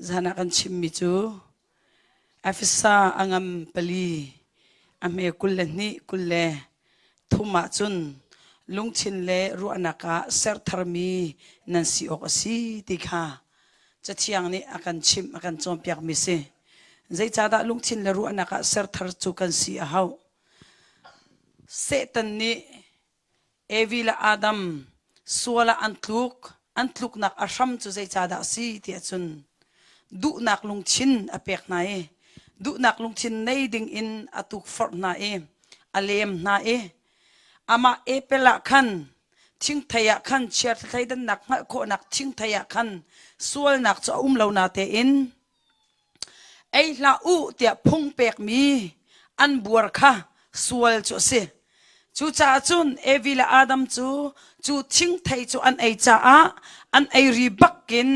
Zan ah kan chimmi cu Efesa a ngam pali a hme kul le hnih kul le Thum ahcun lungthin le ruahnak ah sertharmi nan si awk a si ti kha Cathiang nih a kan chimh, a kan cawnpiakmi si. Zeicahdah lungthin le ruahnak ah serthar cu kan si a hauh? Satan nih Evi le Adam sual ah an tluk an tluknak a hram cu zeicahdah a si tiah cun duhnak lungthin a pek hna i duhnak lungthin nei dingin a tukforh hna i a lem hna i amah epel ah khan thingthei ah khan chia thleidannak hngalh khawhnak thingthei ah khan sualnak cu a um lo na tein ei hlah u tiah phung pekmi an buar kha sual cu a si. Cucaah cun Evi le Adam cu cu thingthei cu an ei caah an ei ri bak in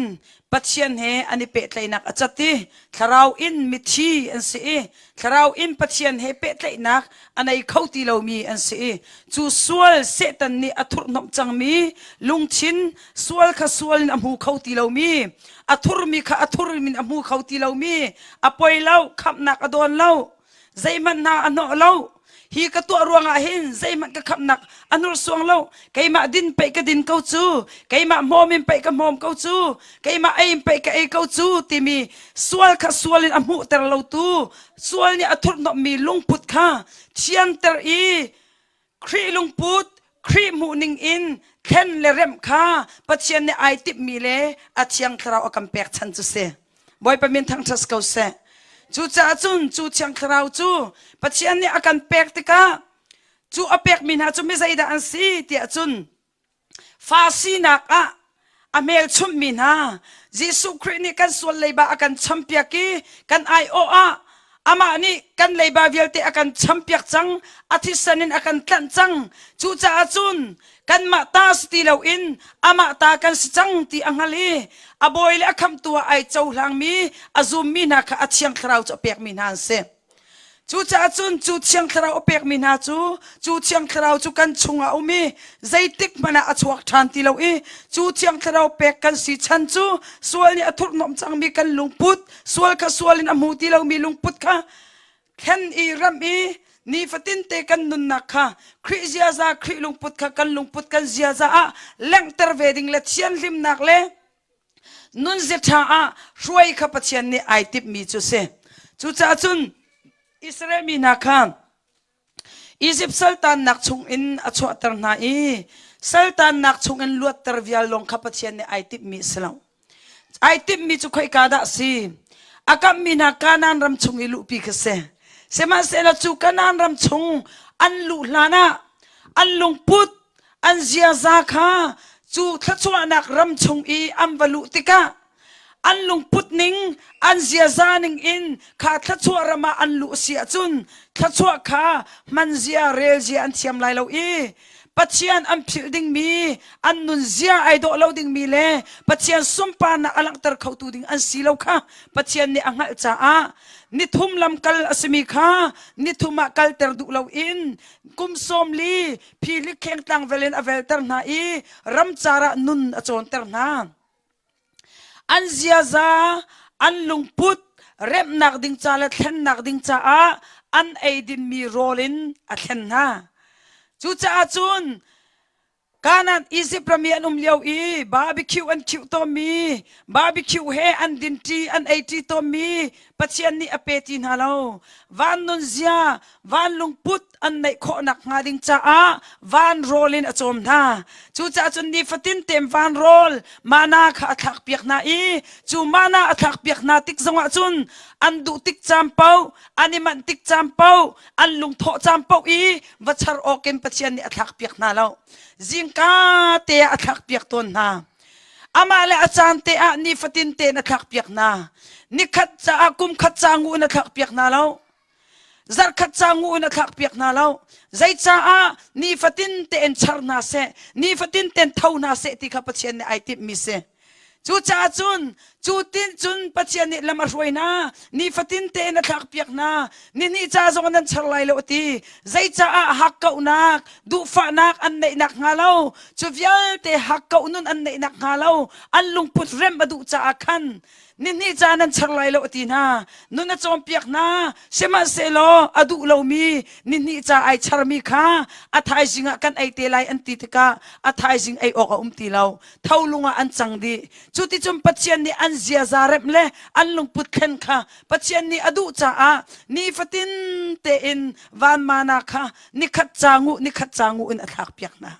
Pathian he an i pehtlaihnak a cat i thlarau in mithi an si i Thlarau in Pathian he pehtlaihnak a nei kho ti lomi an si i cu sual Satan nih a thurhnomh cangmi lungthin sual kha sual in a hmu kho ti lomi a thurmi kha a thur in a hmu kho ti lomi a poi lo khamhnak a dawn lo zeihmanh hna a hnawh lo hi ka tuah ruangah hin zeihmanh ka khamnak a hnursuang lo keimah din peih ka din ko cu keimah hmawm in peih ka hmawm ko cu keimah ei in peih ka ei ko cu timi sual kha sual in a hmuhter lo tu sual nih a thurhnommi lungput kha thianter i Khrih lungput Khrih hmuhning in thlen le remh kha Pathian nih ai timhmi le a thiang thlarau a kan pek chan cu si. Bawipa min thangṭhat ko seh. Cucaah cun cu thiang thlarau cu Pathian nih a kan pek tikah cu a pekmi hna cu mi zeidah an si tiah cun fa sinak ah a hmelchunhmi hna Jesuh Khrih nih kan sual leiba a kan champiak i kan aiawh ah amah nih kan leiba vialte a kan champiak cang a thisen in a kan tlanh cang cucaah cun kanmah ta si ti loin amah ta kan si cang ti a hngal i a bawi le a khamtu ah ai cohlangmi a zummi hna kha a thiang thlarau cu a pekmi hna an si Cucaah cun cu thiang thlarau a pekmi hna cu cu thiang thlarau cu kan chungah a um i zeitik hmanh ah a chuak ṭhan ti lo i cu thiang thlarau pek kan si chan cu sual nih a thurhnomh cangmi kan lungput sual kha sual in a hmu ti lomi lungput kha thlen i ram i nifatinte kan nunnak kha Khrih ziaza Khrih lungput kha kan lungput kan ziaza ah langhter ve ding le thianhlimnak le Nunzia ṭha ah hruai kha Pathian nih ai timhmi cu a si. Cucaah cun Israel mi hna kha Izipt saltannak chungin a chuahter hna i saltannak chungin luatter vial lawng kha Pathian nih ai timhmi a si lo. Ai timhmi cu khoika dah a si? A kamhmi hna Kanaan ram chung i luhpi kha si. Sihmanhsehlaw cu Kanaan ram chung an luh hlanah an lungput an ziaza kha cu thluachuahnak ram chung i an va luh tikah an lungput ning an ziaza ning in kha thluachuah ram ah an luh si ahcun thluachuah kha hman zia rel zia an thiam lai lo i pathian an philh dingmi an nunzia ai dawh lo dingmi le pathian sunparnak a langhter khotu ding an si lo kha pathian nih a hngalh caah nithum lamkal a simi kha nithum ah kalter duh lo in kum sawm li phi hlikheng tlang vel in a velter hna i ramcar ah nun a cawnter hna an ziaza an lungput remnak ding ca le thlennak ding caah an eidinmi rawl in a thlen hna cucaah cun kanan Izipt rami an um lio i barbecue an khiuh tawnmi barbecue he an dinṭi an eiṭi tawnmi Pathian nih a pe ti hna lo van nunzia van lungput an neih khawhnak hnga ding caah van rawl in a cawm hna cucaah cun nifatin tem van rawl mana kha a thlak piak hna i cu mana a thlak piak hna tik zongah cun an duh tik cam poh an i manh tik cam poh an lungthawh cam poh i va char awk in pathian nih a thlak piak hna lo zingka te ah a thlak piak tawn hna amah le a caan te ah nifatin tein a thlak piak hna nikhat caah kum khat ca ngu in a thlak piak hna lo zarkhat ca ngu in a thlak piak hna lo zei caah nifatin tein char hna seh nifatin tein tho hna seh ti kha pathian nih ai timhmi si cucaah cun cu tin cun pathian nih lam a hruai hna nifatin tein a thlak piak hna nihnih ca zong nan char lai lo a ti zei caah hakkauhnak duhfahnak an neihnak hnga lo cu vialte hakkauh nun an neihnak hnga lo an lungput rem a duh caah khan Nihnih ca nan char lai lo a ti hna. Nun a cawnpiak hna. Sihmanhsehlaw a duh lomi nihnih ca ai charmi kha a thaizing ah kan ei te lai an ti tikah a thaizing ei awk a um ti lo. Tholung ah an cang dih. Cuticun Pathian nih an ziaza remh le an lungput thlen kha Pathian nih a duh caah nifatin tein vanmana kha nikhat ca nguh nikhat ca nguh in a thlak piak hna.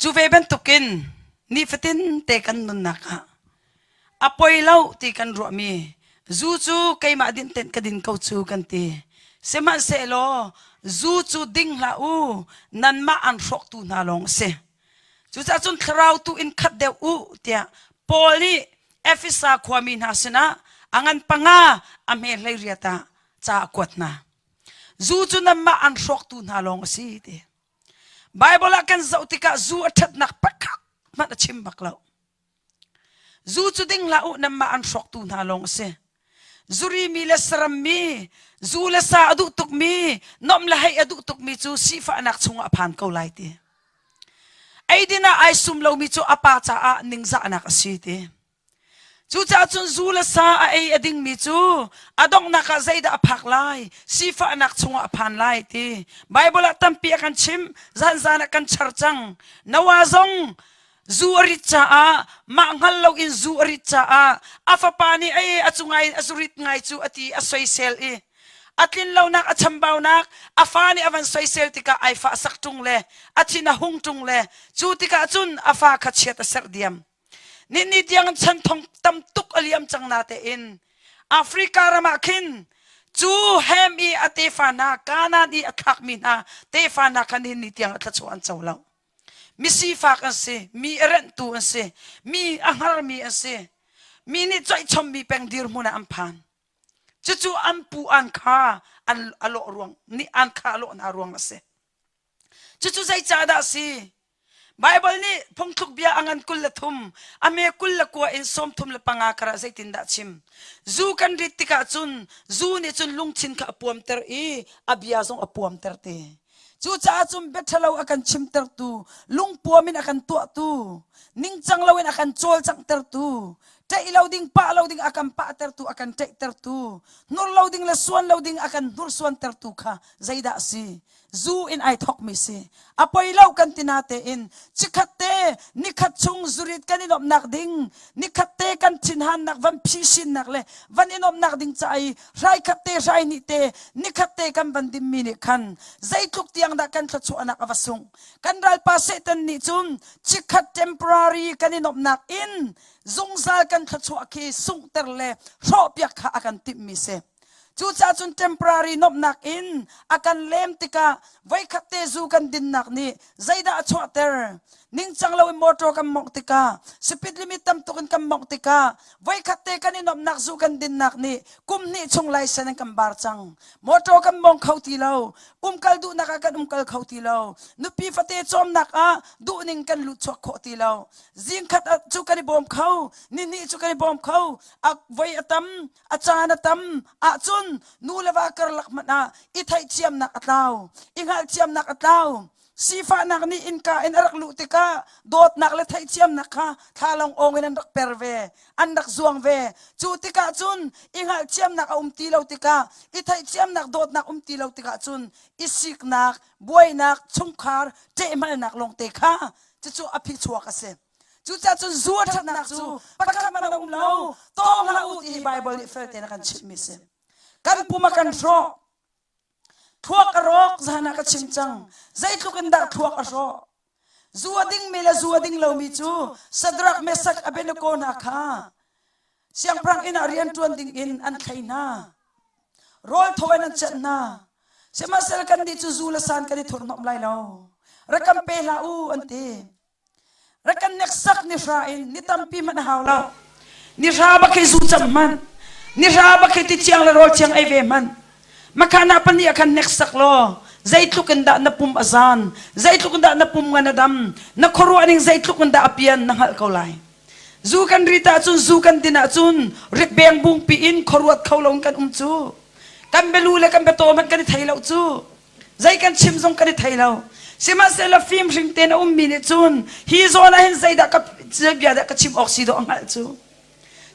Cu ve bantukin nifatin te kan nunnak ah a poi lo ti kan ruahmi zu cu keimah din tein ka din ko cu kan ti. Sihmanhsehlaw zu cu ding hlah u nanmah an hrawktu hna lawng a si. Cucaah cun thlarau tu in khat deuh u tiah Paul nih Efesa khuami hna sinah a ngan panga a hme hleiriat ah ca a kuat hna. Zu cu nanmah an hrawktu hna lawng a si ti. Baibal ah kan zoh tikah zu a ṭhatnak pakhat hmanh a chim bak lo. Zu cu ding hlah u, nanmah an hrawktu hna lawng a si. Zurimi le sarammi, zu le sa a duh tukmi, nom le hei a duh tukmi cu sifahnak chungah a phan ko lai ti. Eidin ah ai sum lomi cu a pa caah ningzahnak a si ti. Cucaah cun zu le sa a ei a dingmi cu a donghnak ah zeidah a phak lai? Sifahnak chungah a phan lai ti Baibal ah tampi a kan chimh. Zanzan ah kan char cang. Noah zong zu a rit caah mah hngal loin zu a rit caah a fapa nih ei a cu ngai a zu rit ngai cu a ti a soisel i a tlinlonak a chambaunak a fa nih a van soisel tikah ai fah sak ṭung le a thin a hung ṭung le cu tikah cun a fa kha chiat a serh diam. Ninni tiang chan thong tam tuk a liam cang na tein Africa ram ah khin cu hem i a tefa hna Kanaan i a thlakmi hna tefa hna kha ninni tiang a thlachuah an co lo misifak an si mi a renhtu an si mi a hngarmi an si mi nih choihchommi peng dirhmun ah an phan cucu an pu an kha an a lawh ruang nih an kha a lawh hna ruang a si cucu zeicahdah a si Baibal nih phungthlukbia a ngan kul le thum, a me kul le kua in sawmthum le panga kara zeitindah chim? Zu kan rit tikah cun zu nih cun lungthin kha a puamter i a bia zong a puamter te. Cucaah cun biaṭhalo a kan chimtertu, lungpuam in a kan tuahtu, ningcang loin a kan cawlcanghtertu, ṭeih lo ding, pah lo ding a kan pahtertu, a kan ṭeihtertu, hnur lo ding le suan lo ding a kan hnursuantertu kha zeidah a si? zu in ai thokmi si a poi lo kan tina tein chikhat te nikhat chung zurit kan in omnak ding nikhat te kan thinhannak van phi sinnak le van in omnak ding ca ai hrai khat te hrai ni te nikhat te kan van dimmi nih khan zeitluk tiang dah kan thlachuahnak a va sung kan ralpa satan nih cun chikhat temporary kan in omnak in zungzal kan thlachuah khi sungter le hrawhpiak kha a kan timmi si Cucaah cun temporary nuamhnak in a kan lem tikah voikhat te zu kan dinnak nih zeidah a chuahter? Ningcang loin motor kan mawngh tikah, speed limit tam tuk in kan mawngh tikah, voikhat te kan i nuamhnak zu kan dinnak nih kum hnih chung laisen in kan bar cang. Motor kan mawng kho ti lo. Umkal duhnak ah kan umkal kho ti lo. Nupi fate cawmnak ah duhning kan lut chuak khawh ti lo. Zingkhat cu kan i bawm kho. Nihnih cu kan i bawm kho. A voi a tam. a caan a tam ahcun nu le va karlak hmanh ah i theithiamnak a tlau i hngalhthiamnak a tlau sifahnak nih innka in a rak luh tikah dawtnak le theithiamnak kha thlalong ong in an rak per ve an rak zuang ve cu tikah cun i hngalhthiamnak a um ti lo tikah i theithiamnak dawtnak um ti lo tikah cun i siknak buainak chungkhar ṭehmalnak lawngte kha cucu a phichuak a si Cucaah cun zu a ṭhatnak cu pakhat hmanh a um lo. Tawng hlah u ti hi Baibal nih fel tein a kan chimhmi a si. Kan pum a kan hrawh. Thluak ka rawk zan ah ka chim cang. Zeitluk in dah thluak a hrawh. Zu a dingmi le zu a ding lomi cu Sadrak, Mesak, Abednego hna kha siangpahranginn ah rian ṭuan dingin an thlei hna. Rawl tho in an cenh hna. Sihmanhsehlaw kannih cu zu le san kan i thurhnomh lai lo. Rak kan pe hlah u, an ti. Rakan neksak ni hra in ni tampi hmanh hau lo. Ni hra ba kei zu cam hman. Ni hra ba kei ti ciang le rawl ciang ei ve hman. Makhan apa ni akhan neksak lo. Zeitluk in dah na pum a zan. Zeitluk in dah na pum ngan a dam. Na khuaruah ning zeitluk in dah a pian na hngalh ko lai. Zu kan rit ahcun zu kan din ahcun rikbeng bungpi in khuaruat kho lo kan um cu. Kan belu le kan beto hmanh kan i thei lo cu. Zei kan chim zong kan i thei lo. Sihmanhsehlaw fim hring tein a ummi nih cun hi zawn ah hin zeidah ka bia dah ka chim awk si dawh a hngalh cu.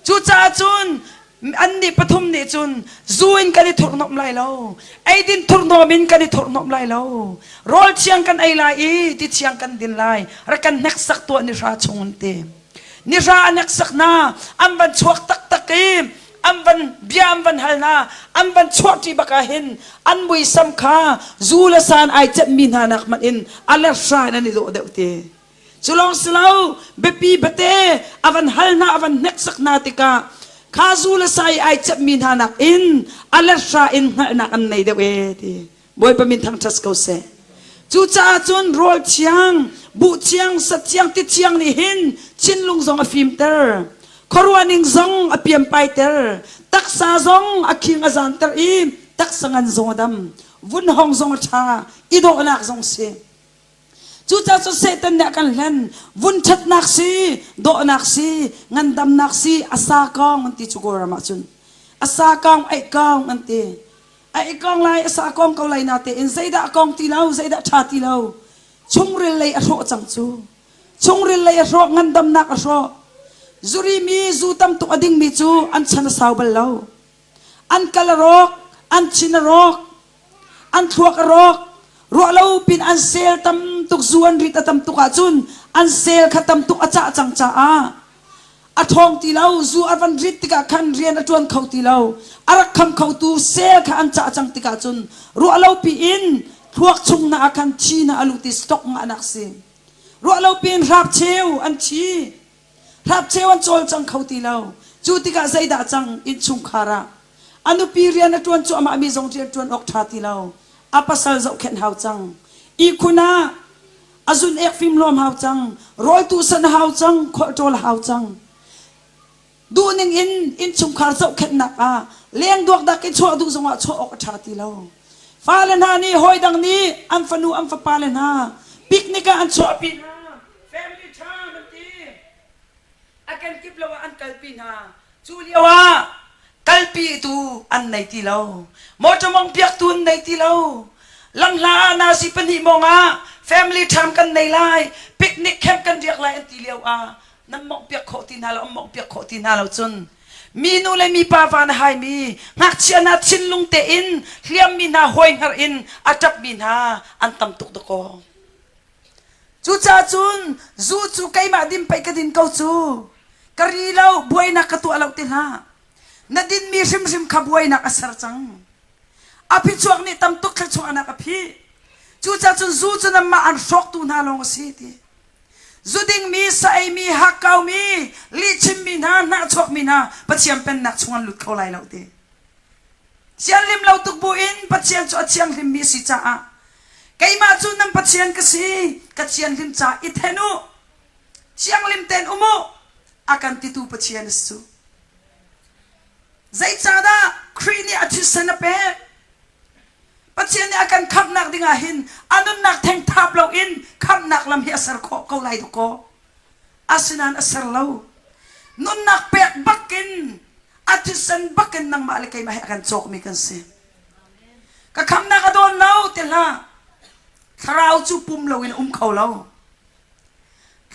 Cucaah cun annih pathum nih cun zu in kan i thurhnomh lai lo. Eidin thurhnomh in kan i thurhnomh lai lo. Rawl thiang kan ei lai i ti thiang kan din lai. Rak kan hneksak tuah ni hra chung an ti. Nihra an eksak hna an van chuak taktak i an van bia an van hal hna an van chuah ṭi bak ah hin an muisam kha zu le san ai ceihmi hna nak hmanh in a lerhra in an i dawh deuh te cu lawng si lo biapi bate a van hal hna a van hneksak hna tikah kha zu le sa i ai ceihmi hna nak in a lerhra in hngalhnak an nei deuh ee ti Bawipa min thangṭhat ko seh. Cucaah cun rawl thiang, buh thiang, sat thiang, ti thiang nih hin thinlung zong a fimter. Khuaruahning zong a pianpaiter. Taksa zong a khing a zanter i taksa ngan zong a dam. Vun hong zong a ṭha, i dawhnak zong si. Cucaah cu Satan nih a kan hlen vun ṭhatnak si dawhnak si ngandamnak si a sa kong an ti cu Kawlram ah cun a sa kong eih kong an ti a eih kong lai a sa kong ko lai na tein zeidah a kong ti lo zeidah ṭha ti lo chungril lei a hrawh cang cu chungril lei a hrawh ngandamnak a hrawh zurimi zu tam tuk a dingmi cu an chan a sau bal lo An kal a rawk, an chin a rawk, an thluak a rawk. Ruahlo pin an sel tam tuk zu an rit a tam tuk ahcun an sel kha tam tuk a cah cang caah a ṭhawng ti lo. Zu a van rit tikah khan rian a ṭuan kho ti lo. A rak kham khotu sel kha an cah cang tikah cun ruahlopi in thluak chung na ah khan thi na a luh ti stock ngah nak si. Ruahlopi in hrapcheu an thi. Hlakcheu an cawl cang kho ti lo. Cu tikah zeidah cang innchungkhar ah? A nupi rian a ṭuan cuahmahmi zong rian ṭuan awk ṭha ti lo. A pasal zohkhenh hau cang. Ihkhun ah a zun-ek fim luam hau cang. Rawl tuhsan hau cang. Khualṭawl hau cang. Duh ning in innchungkhar zohkhenhnak ah lengduak dak i chuah duh zongah chuah awk a ṭha ti lo. Fale hna nih hawidang nih an fanu an fapale hna picnic ah an chuahpi hna. Family ṭha an ti. A kenkip lo ah an kalpi hna. Cu lio ah kalpitu an nei ti lo. Motor mong biaktu an nei ti lo. Langhla ah nasi pahnih mong ah family ṭham kan nei lai. Picnic camp kan riak lai an ti lio ah nan mongh piak khawh ti hna lo, an mongh piak khawh ti hna lo cun Minu le mipa van a haimi, ngakchia hna thinlung tein hliammi hna hoihngar in a ṭapmi hna an tam tuk dakaw. Cucacun zu cu keimah din pei ka din ko cu. Ka ri lo, buainak ka tuah lo ti hlah. Na dinmi hrimhrim kha buainak a ser cang. A phichuak nih tam tuk thluachuahnak a phih. Cucacun zu cu nanmah an hrawktu hna lawng a si ti. Zudingmi, saeimi, hakkaumi, lihchimmi hna, hnahchuakmi hna Pathian pennak chung an lut kho lai lo ti. Sianlim lo tuk buin Pathian cu a thianghlimmi a si caah keimah cu nan Pathian ka si ka thianhlim ca i then u thianghlim tein um u a kan titu Pathian a si cu. Zeicahdah Khrih nih a thisen a pek? Pathian nih a kan khamhnak ding ah hin a nunnak thengthap loin khamhnak lam hi a ser khawh ko lai dawkaw. Asinain a ser lo. Nunnak pek bakin a thisen bakin nangmah le keimah hi a kan cawkmi kan si. Ka khamnak a dawn lo ti hlah. Thlarau cu pum loin a um kho lo.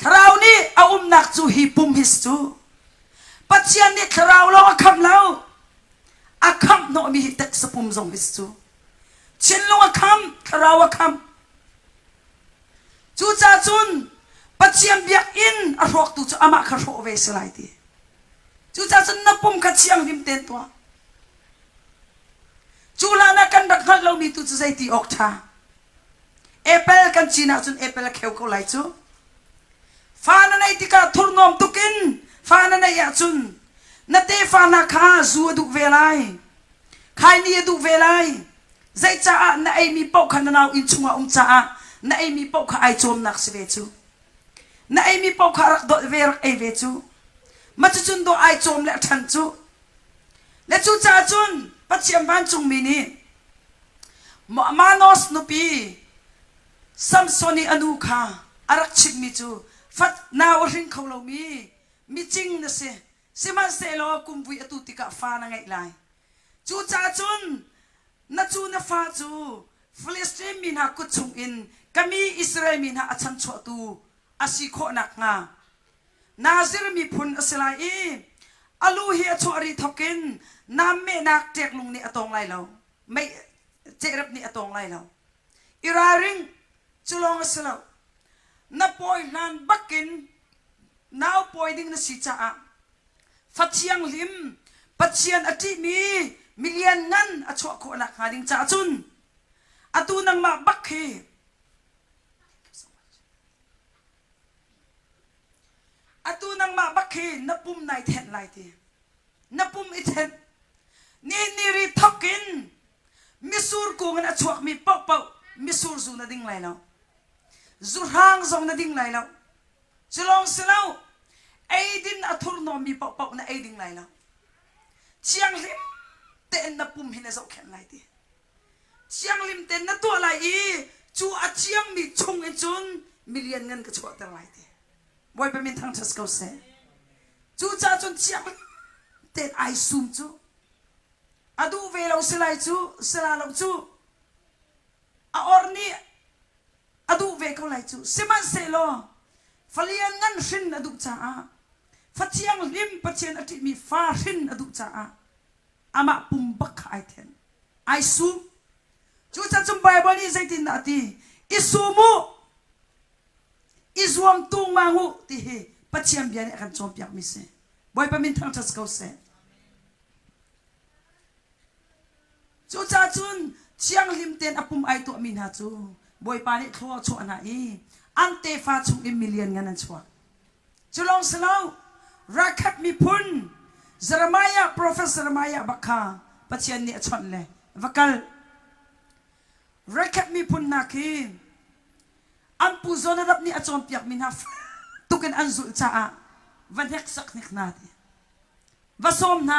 Thlarau nih a umnak cu hi pum his cu. Pathian nih thlarau lawng a kham lo. a khamhnawhmi teksapum zong hi cu Chinlung a kham thlarau a kham cucaah cun Pathian biakinn a hrawktu cu amah kha hrawh ve si lai ti cucaah cun na pum kha thianghlim ten tuah cu hlanah kan rak hngalh lomi tu cu zei ti awk ṭha apple kan cin ahcun apple a kheu ko lai cu Fa na neih tikah thurhnawm tuk in fa na neih ahcun na tefa hna kha zu a duh ve lai. Khaini a duh ve lai. Zei caah na eimi paoh kha na nau inn chungah um caah na eimi paoh kha ai cawmnak si ve cu. Na eimi paoh kha rak dolh ve rak ei ve cu. Macucun dawh ai cawm le a ṭhan cu. Le cucaah cun Pathian vancungmi nih Manos nupi Samson i a nu kha a rak chimhmi cu fat nau a hring kho lomi micing na si, sihmanhsehlaw kum vui a tu tikah fa na ngeih lai. Cucaah cun na cu na fa cu Filistin mi hna kut chungin ka mi Israel mi hna a chanchuahtu a si khawh nakhnga Nazir miphun a si lai i a lu hi a chuah rih thawkin namnehnak ṭeklung nih a tawng lai lo. mei cehrep nih a tawng lai lo i ralring cu lawng a si lo na pawi hlan bakin nau pawi ding na si caah fathiang hlim pathian a ṭihmi milian ngan a chuah khawh nakhnga ding caah cun atu nangmah bak hi atu nangmah bak hi na pum nai thenh lai ti na pum i chenh niniri thok in misur kung in a chuakmi pohpoh misur zu na ding lai lo zuhrang zong na ding lai lo cu lawng si lo eidin a thurhnawmmi pohpoh na ei ding lai lo thianghlim tein na pum hi na zohkhenh lai ti thianghlim tein na tuah lai i cu a thiangmi chung in cun milian ngan ka chuahter lai ti Bawipa min thangṭhat ko seh. Cucaah cun chiang tein ai sum cu. A duh ve lo si lai cu, sila lo cu. A or nih a duh ve ko lai cu. Sihmanhsehlaw falian ngan hrin a duh caah, fa thianghlim Pathian a ṭihmi fa hrin a duh caah amah pum bak kha ai then. Ai sum. Cucaah cun Baibal nih zeitindah a ti? I sum u! i zuam tungmang u ti hi Pathian bia nih a kan cawnpiakmi si. Bawipa min thangṭhat si ko seh. Cucacun thianghlim tein a pum ai tuahmi hna cu Bawipa nih thlo a chuah hna i an tefa chung in milian ngan an chuak. Cu lawng si lo, Rakhhat miphun Jeremiah, profet Jeremiah bak kha Pathian nih a chawnh le va kal. Rakhhat miphun hna khi An pu Jonadab nih a cawnpiakmi hna tuk in an zulh caah va hneksak hnik hna ti va sawm hna.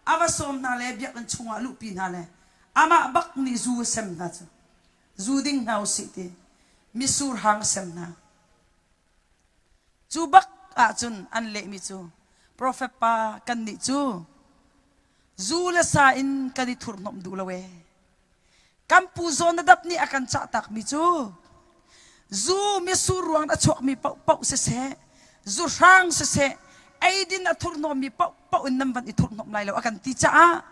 A va sawm hna le biakinn chungah luhpi hna le amah bak nih zu a sem hna cu zu ding hna u sih ti misur hang a sem hna. Cu bak ahcun an lehmi cu profet pa kannih cu zu le sa in kan i thurhnomh duh lo ee. Kan pu Jonadab nih a kan cah takmi cu zu misur ruangin a chuakmi paohpaoh siseh, zuhrang siseh, eidin a thurhnawmmi paohpaoh in nan van i thurhnomh lai lo a kan ti caah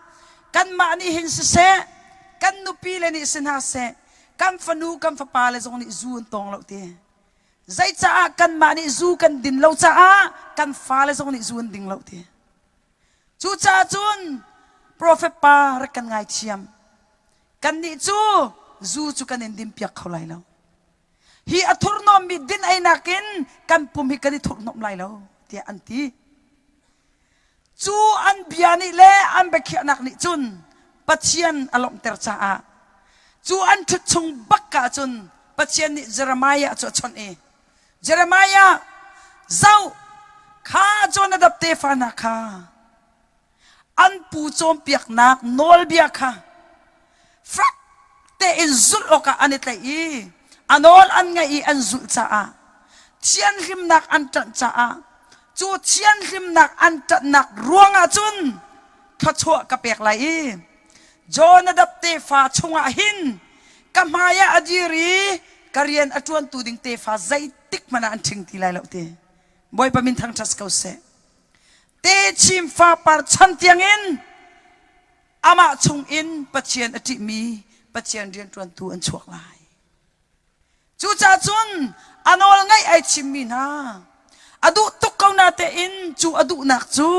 kanmah nih hin siseh, kan nupi le nih si hna seh, kan fanu, kan fapa le zong nih zu an tawng lo ti. Zeicaah kanmah nih zu kan din lo caah kan fale zong nih zu an ding lo ti. Cucaah cun profet pa rak kan ngaithiam. Kannih cu zu cu kan in dinpiak kho lai lo. Hi a thurhnawmmi din einak in kan pum hi kan i thurhnomh lai lo tiah an ti. Cu an bia nih le an biakhiahnak nih cun Pathian a lawmhter caah cu an ṭhut chung bak ah cun Pathian nih Jeremiah cu a chawnh i Jeremiah zoh kha Jonadab tefa hna kha an pu cawnpiaknak nawlbia kha fak tein zulh awkah an i tlaih i a nawl an ngaih i an zulh caah thianhlimnak an ṭanh caah cu thianhlimnak an ṭanhnak ruangah cun thluachuah ka pek lai i Jonadab tefa chungah hin ka hmaiah a dir i ka rian a ṭuantu ding tefa zeitik hmanh ah an ṭhing ti lai lo ti bawipa min thangṭhat ko seh techim fa par chan tiangin amah chungin Pathian a ṭihmi Pathian rianṭuantu an chuak lai. Cucaah cun a nawl ngaih ai thimmi hna, a duh tuk ko natein cu a duhnak cu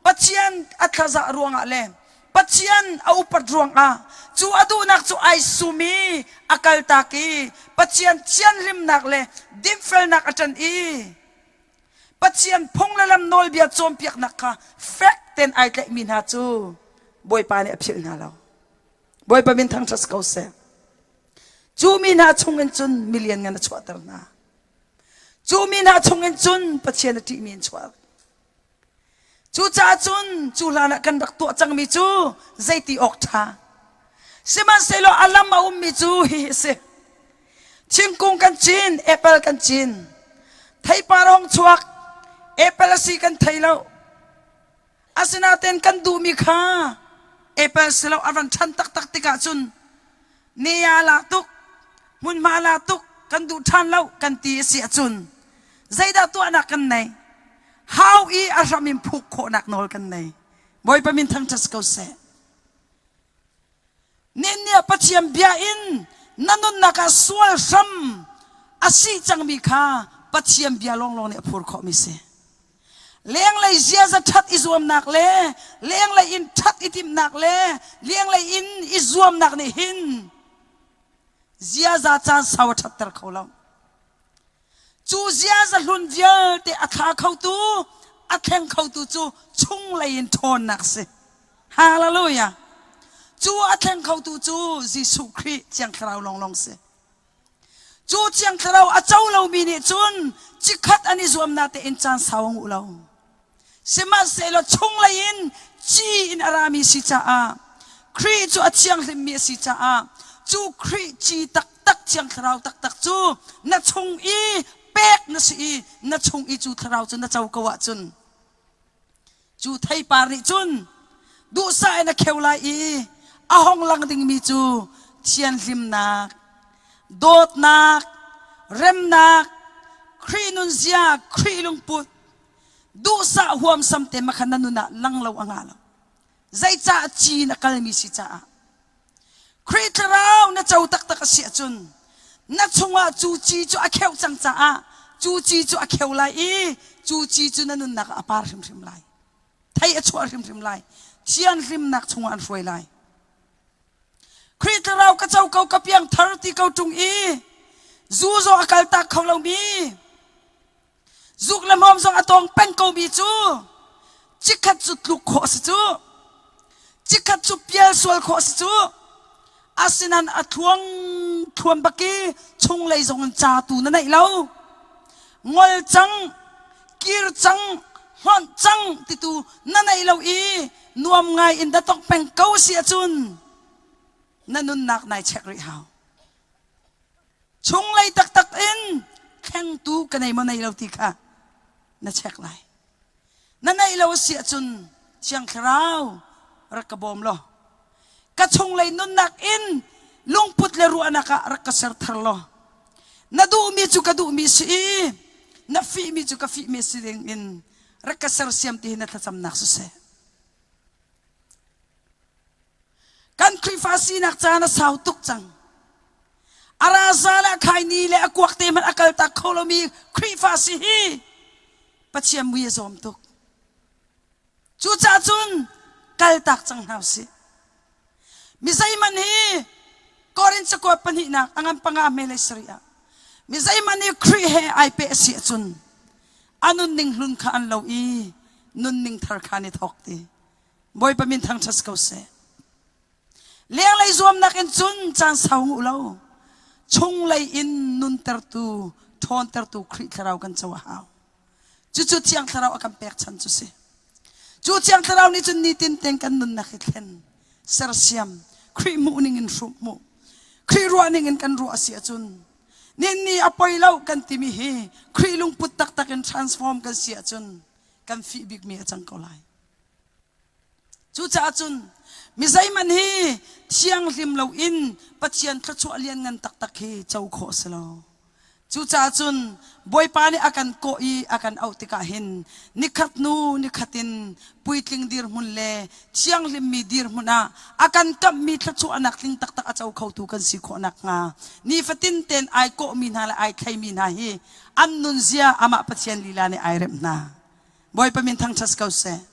Pathian a thlazah ruangah le Pathian a upat ruangah cu a duhnak cu ai sum i a kaltak i Pathian thianhlimnak le dinfelnak a ṭan i Pathian phung le lam nawlbia cawnpiaknak kha fek tein ai tlaihmi hna cu Bawipa nih a philh hna lo. Bawipa min thangṭhat ko seh. Cu mi hna chungin cun mi lianngan a chuahter hna. Cu mi hna chungin cun Pathian a ṭihmi in chuah. Cucaah cun cu hlan ah kan rak tuah cangmi cu zeiti awk ṭha. Sihmanhsehlaw a lam a ummi cu hihi a si. Thingkung kan cin, apple kan cin. Theipar hong chuak, apple a si kan thei lo. Asinain kan duhmi kha apple si lo a van ṭhan taktak tikah cun ne-a la tuk hmunhma la tuk kan duh ṭhan lo kan ti a si ahcun zeidah tuahnak kan nei hau i a hram in phuk khawhnak nawl kan nei bawipa min thangṭhat si ko seh ninnia pathian bia in na nunnak ah sual hram a si cangmi kha pathian bia lawnglawng nih a phur khawhmi si lenglei ziaza ṭhat i zuamnak le lenglei in ṭhat i timhnak le lenglei in i zuamnak nih hin ziaza caan sau a ṭhatter kho lo cu ziaza hlun vialte a thla khotu a thleng khotu cu chunglei in ṭhawnnak si hallelujah cu a thleng khotu cu Jesuh Khrih thiang thlarau lawnglawng si Cu Thiang Thlarau a co lomi nih cun cikhat an i zuamnak tein caan sau ngu lo. Sihmanhsehlaw chunglei in ci in a rami si caah Khrih cu a thianghlimmi a si caah cu Khrih ci taktak Thiang Thlarau taktak cu na chung i pek na si i na chung i cu thlarau cu na co ko ahcun Cu theipar nih cun duhsah in a kheu lai i a hong lang dingmi cu thianhlimnak, dawtnak, remnak, Khrih nunzia, Khrih lungput, duhsah huamsam te makhan na nun ah lang lo a nga lo. Zeicah cin a kalmi si caah Khrih Thlarau na co taktak a si ahcun na chungah cu ci cu a kheuh cang caah cu ci cu a kheu lai i cu ci cu na nunnak ah a par hrimhrim lai. Thei a chuah hrimhrim lai. Thianhlimnak chungah an hruai lai. Khrih Thlarau ka co ko ka piangthar ti ko ṭung i zu zaw a kaltak kho lomi zuk le hmawm zong a tawng peng komi cu chikkhat cu tluk khawh a si cu chikkhat cu pial sual khawh a si cu asinan a thluang thluan bak i chung lei zong in ca tu na neih lo ngol cang kir cang hlonh cang titu na neih lo i nuam ngai in da tong peng ko si ahcun na nunnak nai check rih hau chunglei taktak in thlengtu ka nei maw nei lo ti kha na check lai na neih lo a si ahcun thiang thlarau rak ka bawm law ka chunglei nunnak in lungput le ruahnak ah rak ka ser thar law na duhmi cu ka duhmi si i na fihmi cu ka fihmi si ding in rak ka sersiam ti hi na thlacamnak siseh kan Khrihfa sinak caan a sau tuk cang A raza le a khaini le a kuak te hmanh a kal tak kho lomi Khrihfa si hi Pathian mui a zawm tuk. Cucacun kal tak cang hna usih. Mi zeihman hi Korin cakuat pahnihnak angan panga melei sari ah mi zeihman hi Khrih he ai pe a si ahcun a nunning hlun kha an lo i nunning thar kha an i thawk ti. Bawipa min thangṭhat si ko seh. Lenglei zuamnak in cun caan sau u lo. Chunglei in nuntertu, ṭhawntertu Khrih thlarau kan co a hau. Cucu Thiang Thlarau a kan pekchan cu si. Cu Thiang Thlarau nih cun nitin tein kan nunnak hi thlen, sersiam, Khrih hmuhning in hrum hmuh, Khrih ruahning in kan ruah a si ahcun, ninni a poi lo kan timi hi Khrih lungput taktak in transform kan si ahcun kan fih bikmi a cang ko lai. Cucaah cun mi zeihmanh hi thianghlim loin Pathian thluachuah lianngan taktak hi co khawh a si lo. Cucaah cun Bawipa nih a kan kawh i a kan auh tikah hin nikhat hnu nikhat in puitling dirhmun le thianghlimmi dirhmun ah a kan kamhmi thluachuahnak tling taktak a co khotu kan si khawh nakhnga nifatin tein ai kawhmi hna le ai thleimi hna hi an nunzia amah Pathian lila nih ai remh hna. Bawipa min thangṭhat si ko seh.